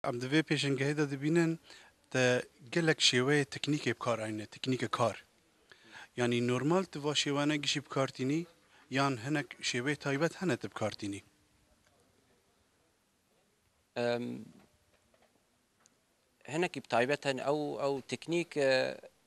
Em di vê pêşengehê de dibînin te gelek şêweyê teknîkê bi kar ayîne, teknîke kar. Yanî normal tu va şêwene gişî bi kar tînî yan hinek şêweyê taybet hene tu bi kar tînî? Hinekî bi taybet hene. Ew ew teknîk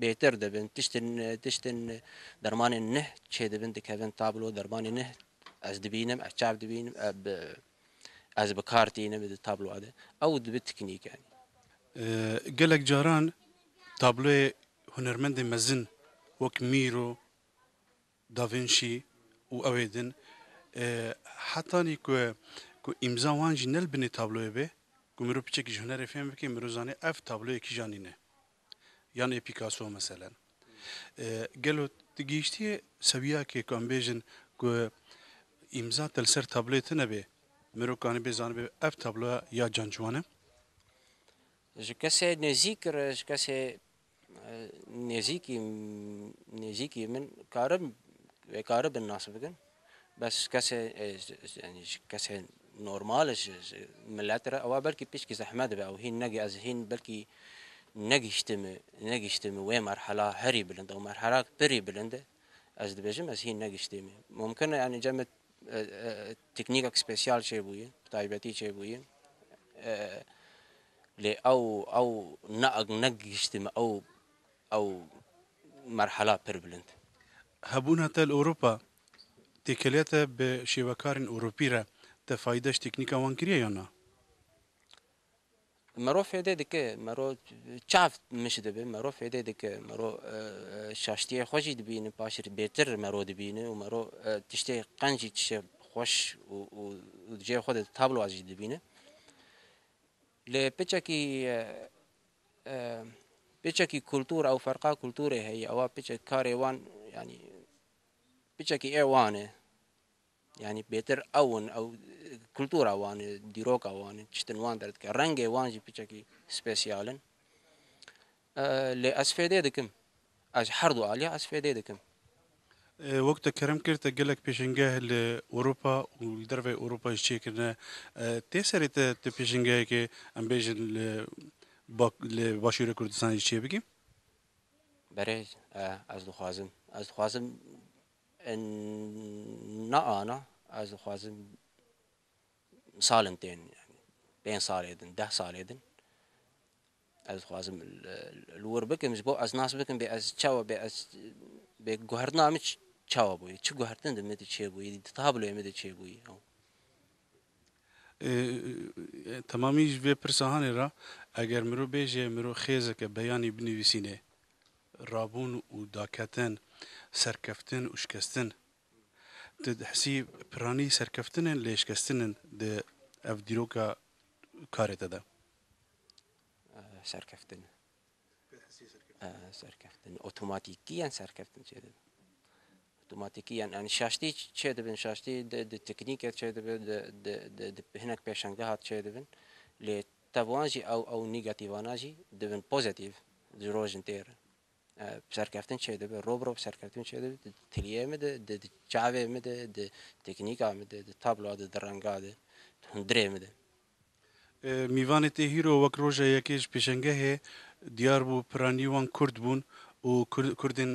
bêtir dibin tiştên tiştên dermanên nih çêdibin dikevin tablo dermanê nih ez dibînim ez çav dibînim ez bi kar tînim di tabloa de ew dibe teknîk e. Gelek caran tabloyê hunermendên mezin wek Mîro, Da Vinci û ew ê din hetanî ku ku îmza wan jî ne li binê tabloyê be ku mirov piçekî ji hunerê fêm bike mirov zanê ev tabloyê kîjan nîne yanê Picasso meselen. Gelo tu gihîştiyê sewiyakê ku em bêjin ku îmza te li ser tabloyê tune bê, mirov kanibê zanibê ev tabloya ya Can Ciwan e? Ji kesê nêzîk re, ji kesê nêzîkî nêzîkî min karim vê karibin nas bikin. Bes kesê yanî ji kesê normal ji milet re ewa belkî pişkî zehmet be ew hîn ne ez hîn belkî negihştim negihştim wê merhela herî bilind ew merhela pirî bilind e ez dibêjim ez hîn negihştim mumkin e yanî cem teknîkek spesiyal çêbûye bi taybetî çêbûye lê ew ew ne negihştim ew ew merhela pir bilind. Hebûna te li Ewropa têkiliya te bi şêwekarên Ewropî re te fayda ji teknîka wan kiriye yan na? Mero fêdê dike, mero çav mij dibe, mero fêdê dike, mero şaştiyê xwe jî dibîne, paşê bêtir mero dibîne û mero tiştê qenc jî tiştê xweş û di cihê xwe de tabloa jî dibîne. Lê piçekî piçekî kultur ew ferqa kulturê heye ewa piçek karê wan yanî piçekî ê wan e. Yanî bêtir ew in ew kultura wan e dîroka wan e tiştin wan derdike rengê wan jî piçekî spesiyal in. Lê ez fêdê dikim. Ez her du aliyê ez fêdê dikim. Wek te kerem kir te gelek pêşengeh li Ewropa û li derveyê Ewropa jî çêkirine. Tê serê te tu pêşengehekê em bêjin li li başûrê Kurdistanê jî çêbikî? Berêz e ez dixwazim. Ez dixwazim na ana ez dixwazim salên tên pênc salê din deh salê din Ez dixwazim li wir bikim ji bo ez nas bikim bê ez çawa bê ez bê guhertina min çawa bûye, çi guhertin di min de çêbûye, di tabloya min de çêbûye. Temamî ji vê pirsahanê re eger mirov bêje mirov xêzeke beyanî binivîsînê, rabûn û daketin, serkeftin û şikestin. Tu dihesî piranî serkeftin in lê şikestin in di ev dîroka karê te de. Serkeftin. Serkeftin. Otomatîkiyen serkeftin çê dibin. Otomatîkiyen yani şaştî çê dibin, şaştî di teknîke çê dibin, di hinek pêşengehat çê dibin. Lê tevwan jî ew ew nîgatîvana jî dibin pozîtîv ji rojin têr in. Serkeftin çê dibin, rov rov serkeftin çê dibin di tiliyê min de, di çavê min de, di teknîka min de, di tabloa de, di renga de, di hundirê min de. Mîvanê Têhîro wek roja yekê ji pêşengehê diyar bû, piranî wan kurd bûn û kurdên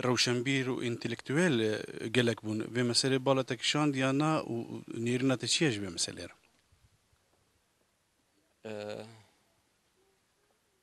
rewşenbîr û întelektuel gelek bûn. Vê meselê bala te kişand ya na û nêrîna te çi ye ji vê meselê re?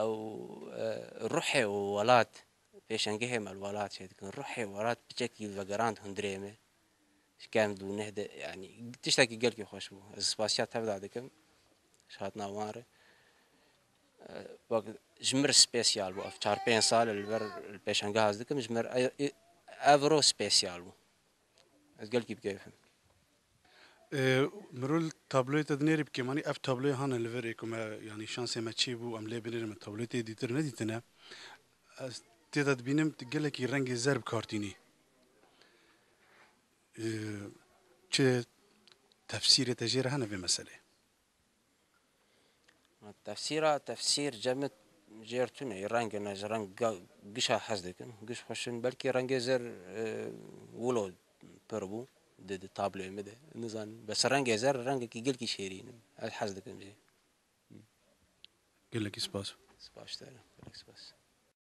Ew ruhê welat, pêşengehê me li welat çê dikin, ruhê welat piçekî vegerand hundirê me, ji kend û neh de yanî tiştekî gelkî xweş bû. Ez spasiya tevda dikim ji hatina wan re. Wek ji min re spesiyal bû ev çar pênc sal li ber li pêşengeha ez dikim ji min re ev roj spesiyal bû. Ez gelkî bi keyf im. Mirûl tabloyê te dinêrî bi kêmanî ev tabloyê hane li vir ê ku me yanî şansê me çê bû em lê binêrin min tabloyê tê dîtir nedîtine ez tê de dibînim tu gelekî rengê zer bi kar tînî çi tefsîrê te jê re hene vê meselê? Tefsîra tefsîr cemit jêr tune yê rengin ez reng gişa hez dikim giş xweşin belkî rengê zer wilo pir bû di di tablê min de nizan bes rengê zer rengekî gelkî şêrîn in ez hez dikim jî. Gelekî spas. Spas te re. Gelek spas.